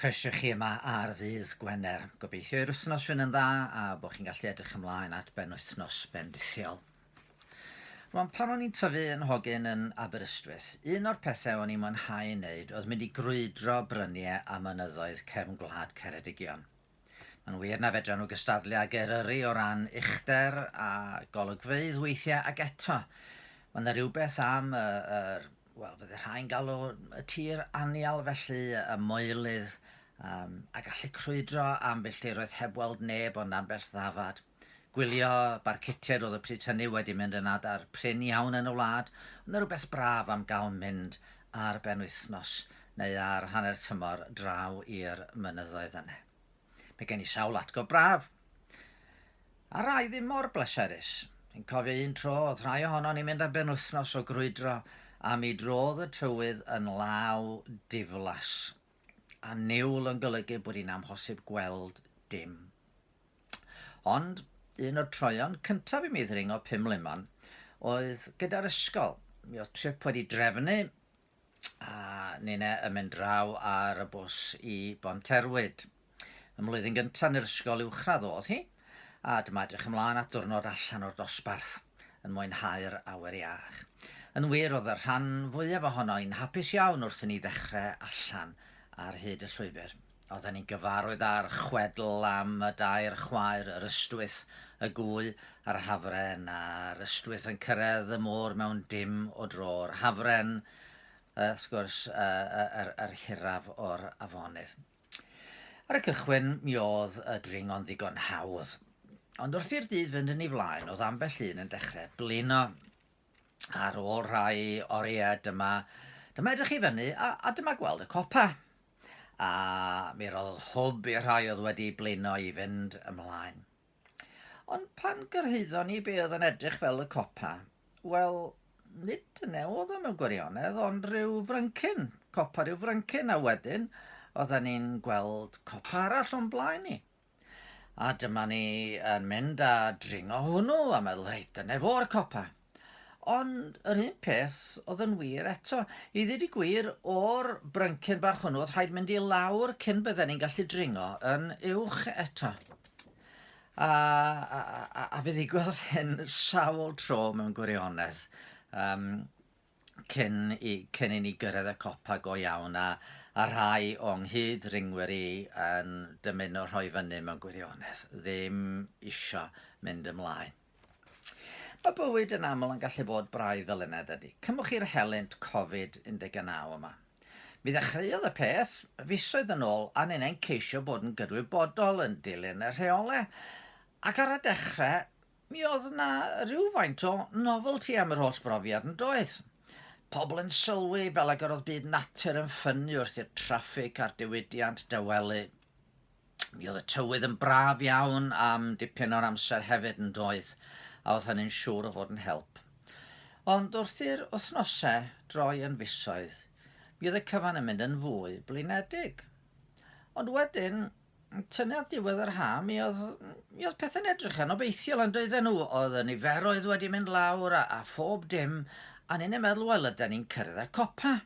Croeso i chi yma ar ddydd Gwener. Gobeithio i'r wythnos fynd yn dda a bod chi'n gallu edrych ymlaen at ben wythnos bendithiol. Rwan, pan o'n i'n tyfu yn hogyn yn Aberystwyth, un o'r pethau o'n i'n mwynhau yn neud oedd mynd i grwydro bryniau a mynyddoedd cefn gwlad Ceredigion. Mae'n wir na fedran nhw gystadlu ag Eryri o ran uchder a golygfeydd weithiau ac eto mae yna rhywbeth am y, yr, wel fydde rhai'n galw y tir anial felly, y moelydd, um, a gallu crwydro ambell diroedd heb weld neb ond ambell ddafad. Gwylio barcutiaid oedd y pryd hynny wedi mynd yn adar prin iawn yn y wlad, ond yn rhywbeth braf am gael mynd ar benwythnos neu ar hanner tymor draw i'r mynyddoedd yna. Mae gen i sawl atgof braf, a rai ddim mor bleserus. Yn cofio un tro oedd rhai ohono ni mynd am benwythnos o grwydro a mi drodd y tywydd yn law diflas. a niwl yn golygu bod hi'n amhosib gweld dim. Ond un o'r troeon cyntaf i mi ddringo pum lemon oedd gyda'r ysgol. Mi oedd trip wedi drefnu a nine yn mynd draw ar y bws i Bonterwyd. Ym mlwyddyn gyntaf yn yr ysgol uwchradd oedd hi, a dyma edrych ymlaen at ddwrnod allan o'r dosbarth, yn mwynhau'r awyr iach. Yn wir, oedd y rhan fwyaf ohono i'n hapus iawn wrth i ni ddechrau allan ar hyd y llwybr. Oedden ni'n gyfarwydd â'r chwedl am y dair chwaer, yr ystwyth, y gwy a'r hafren, a'r ystwyth yn cyrraedd y môr mewn dim o dro, yr hafren, wrth gwrs, yr, yr, yr hiraf o'r afonydd. Ar y cychwyn, mi oedd y dringo'n ddigon hawdd. Ond wrth i'r dydd fynd yn ei flaen, oedd ambell un yn dechrau blino. Ar ôl rhai oriau, dyma, dyma edrych i fyny, a, a dyma gweld y copa. A mi roddodd hwb i'r rhai oedd wedi blino i fynd ymlaen. Ond pan gyrhaeddon ni be oedd yn edrych fel y copa, wel, nid dyna oedd o mewn gwirionedd, ond rhyw fryncyn, copa rhyw fryncyn, a wedyn oedden ni'n gweld copa arall o'n blaen ni. A dyma ni yn mynd a dringo hwnnw a meddwl, reit, dyna fo'r copa. Ond yr un peth oedd yn wir eto. I ddweud y gwir, o'r bryncyn bach hwnnw, oedd rhaid mynd i lawr cyn bydden ni'n gallu dringo yn uwch eto. A, a, a, a fe ddigwyddodd hyn sawl tro mewn gwirionedd. Um, cyn, i, cyn i ni gyrraedd y copa go iawn a, a rhai o'n nghyd ringwyr i yn dymuno rhoi fyny mewn gwirionedd, ddim isio mynd ymlaen. Mae bywyd yn aml yn gallu bod braidd fel un eddydi. Cymwch i'r helynt Covid 19 yma. Mi ddechreuodd y peth fisoedd yn ôl a ni'n ein ceisio bod yn gydwybodol yn dilyn y rheolau, ac ar y dechrau mi oedd yna rhywfaint o novelty am yr holl brofiad yn doedd? Pobl yn sylwi fel ag yr oedd byd natur yn ffynnu wrth i'r traffig a'r diwydiant dawelu. Mi oedd y tywydd yn braf iawn am dipyn o'r amser hefyd yn doedd, a oedd hynny'n siŵr o fod yn help. Ond wrth i'r wythnosau droi yn fisoedd, mi oedd y cyfan yn mynd yn fwy blinedig. Ond wedyn, tynnu at ddiwedd yr ha, mi oedd, mi oedd pethau'n edrych yn obeithiol yn doedden nhw. Oedd y niferoedd wedi mynd lawr a, a phob dim, a ni'n ei meddwl, wel, ydy ni'n cyrraedd y copa.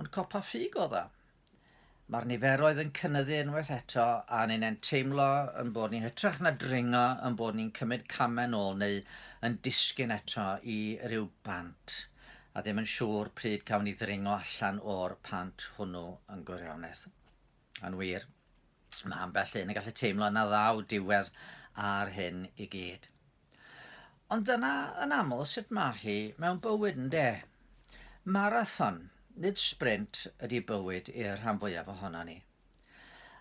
Ond copa ffug oedd o. Mae'r niferoedd yn cynyddu unwaith eto a ni'n e'n teimlo yn bod ni hytrach na dringo yn bod ni'n cymryd camau nôl neu yn disgyn eto i ryw bant a ddim yn siŵr pryd cawn ni ddringo allan o'r pant hwnnw yn gwirionedd. Yn wir, mae ambell un yn gallu teimlo na ddaw diwedd ar hyn i gyd. Ond dyna yn aml sut mae hi mewn bywyd yn de. Marathon, nid sprint, ydy bywyd i'r rhan fwyaf ohono ni.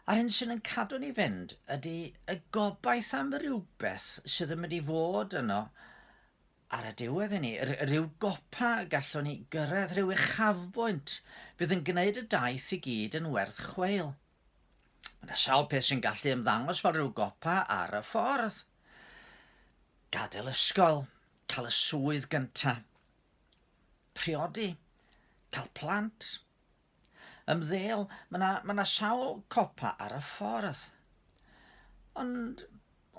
A'r hyn sy'n yn cadw ni fynd ydy y gobaith am rhywbeth sydd yn mynd i fod yno ar y diwedd i ni, rhyw gopa y gallwn ni gyrraedd, rhyw uchafbwynt fydd yn gwneud y daith i gyd yn werth chweil. Mae yna sawl peth sy'n gallu ymddangos fel rhyw gopa ar y ffordd. Gadael ysgol, cael y swydd gyntaf, priodi, cael plant, ymddeol, mae yna, mae yna sawl copa ar y ffordd. Ond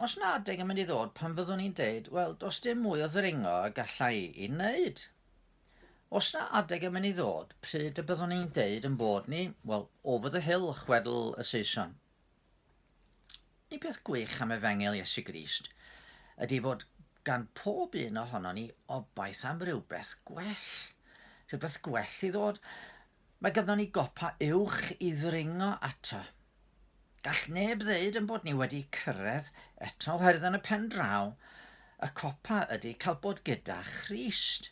os na adeg yn mynd i ddod pan fyddwn ni'n deud, wel, does dim mwy o ddringo y gallai i wneud. Os na adeg yn mynd i ddod, pryd y byddwn ni'n deud yn bod ni, wel, over the hill, chwedl y Saeson. Y peth gwych am efengel Iesu Grist ydy fod gan pob un ohono ni obaith am rywbeth gwell. Rhywbeth gwell i ddod. Mae ganddo ni gopa uwch i ddringo ato. Gall neb ddeud yn bod ni wedi cyrraedd eto oherwydd yn y pen draw, y copa ydy cael bod gyda Christ.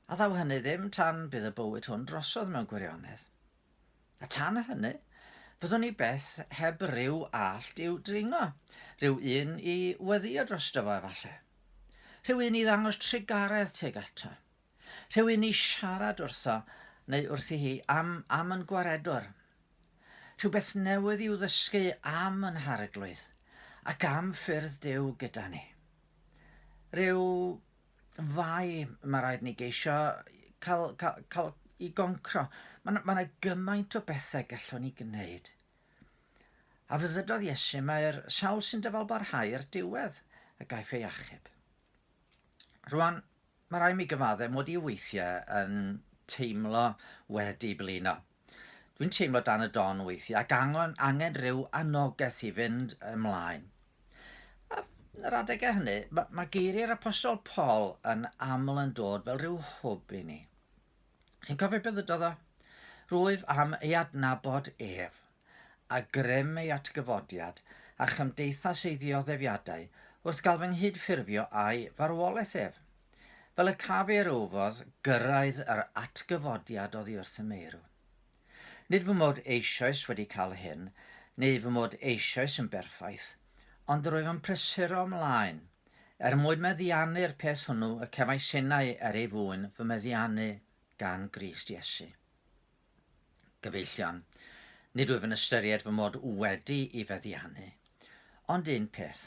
A ddaw hynny ddim tan bydd y bywyd hwn drosodd mewn gwirionedd. A tan hynny, fyddwn ni beth heb ryw allt i'w dringo, rhyw un i weddio drosto fo efallai. Rhyw un i ddangos trugaredd tuag ato. Rhywun i siarad wrtho neu wrthi hi am am yn gwaredwr. Rhywbeth newydd i'w ddysgu am yn Harglwydd ac am ffyrdd Duw gyda ni. Rhyw fai mae rhaid ni geisio cael, cael, cael i goncro. Mae yna ma gymaint o bethau gallwn ni gwneud. A fyddydodd Iesu, mae'r sawl sy'n dyfalbarhau i'r diwedd y gaiff ei achub. Rwan, Mae rhaid mi gyfaddau mod i weithiau yn teimlo wedi blino. Dwi'n teimlo dan y don weithiau ac angen, angen rhyw anogaeth i fynd ymlaen. A yn yr adegau hynny, mae, mae geiriau'r apostol Paul yn aml yn dod fel rhyw hwb i ni. Chi'n cofio beth ydodd o? Rwyf am ei adnabod ef. a grym ei atgyfodiad a chymdeithas ei ddioddefiadau wrth gael fy nghyd-ffurfio â'i farwolaeth ef. Fel y caf ei rywfodd gyrraedd yr atgyfodiad oddi wrth y meirw. Nid fy mod eisoes wedi cael hyn, neu fy mod eisoes yn berffaith, ond rwyf yn prysuro ymlaen, er mwyn meddiannu'r peth hwnnw y cefais innau er ei fwyn fy meddiannu gan Grist Iesu. Gyfeillion, nid wyf yn ystyried fy mod wedi i feddiannu. Ond un peth,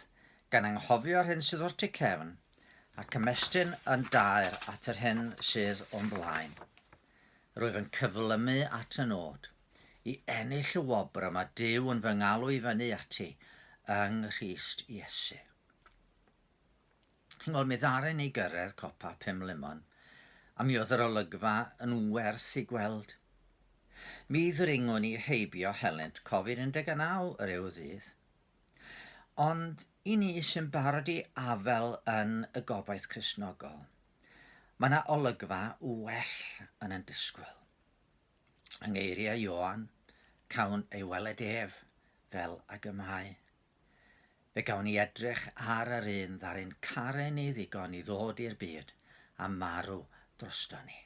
gan anghofio'r hyn sydd o'r tu cefn, ac ymestyn yn daer at yr hyn sydd o'n blaen. Rwyf yn cyflymu at y nod, i ennill y wobr y mae Duw yn fy ngalw i fyny ati yng Nghrist Iesu. Ch'mod, mi ddaru ni gyrraedd copa Penmlymon, a mi oedd yr olygfa yn werth ei gweld. Mi ddringon ni heibio helynt Covid 19 yr eu ddydd. Ond i ni sy'n barod i afael yn y gobaith Cristnogol, mae 'na olygfa well yn yn disgwyl. Yng ngeiriau Ioan, cawn ei weled ef fel ag y mae. Fe gawn ni edrych ar yr un ddaru'n caru ni ddigon i ddod i'r byd a marw drosto ni.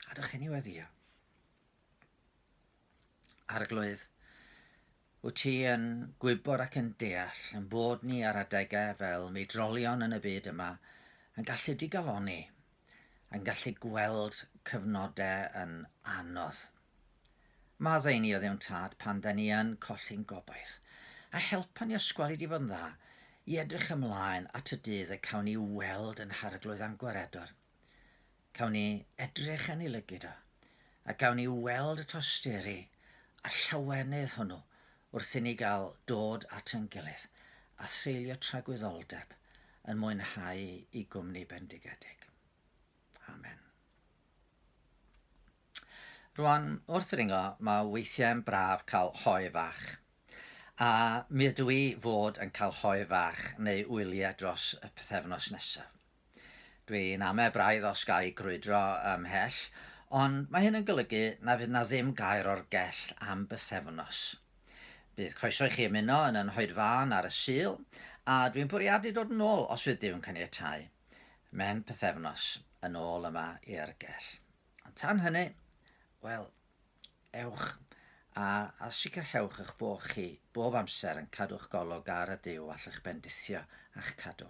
A dych chi'n ei weddio? Arglwydd, wyt ti yn gwybod ac yn deall yn bod ni ar adegau fel mi drolion yn y byd yma yn gallu digaloni, yn gallu gweld cyfnodau yn anodd. Mae dda i ni oedd ewn tad pan da ni yn colli'n gobaith. A helpa ni osgwelid i fod yn dda, i edrych ymlaen at y dydd y cawn ni weld yn harglwydd a'n gwaredwr. Cawn ni edrych yn ei lygid o, a gawn ni weld y tosteri a llawenydd hwnnw wrth i ni gael dod at yn gilydd a threulio tragwyddoldeb yn mwynhau i gwmni bendigedig. Amen. Rwan, wrth ddringo, mae weithiau'n braf cael hoe fach. A mi ydw i fod yn cael hoe fach neu wyliau dros y pythefnos nesaf. Dwi'n ame braidd os ga i grwydro ymhell, ond mae hyn yn golygu na fydd na ddim gair o'r gell am bythefnos. Bydd croeso i chi ymuno yn yn hoedfân ar y Sul, a dwi'n bwriadu dod yn ôl os fydd Duw'n caniatáu. Mhen pythefnos yn ôl yma i'r gell. Ond tan hynny, wel, ewch a, a sicrhewch eich bod chi bob amser yn cadw'ch golwg ar y Duw allwch bendithio a'ch cadw.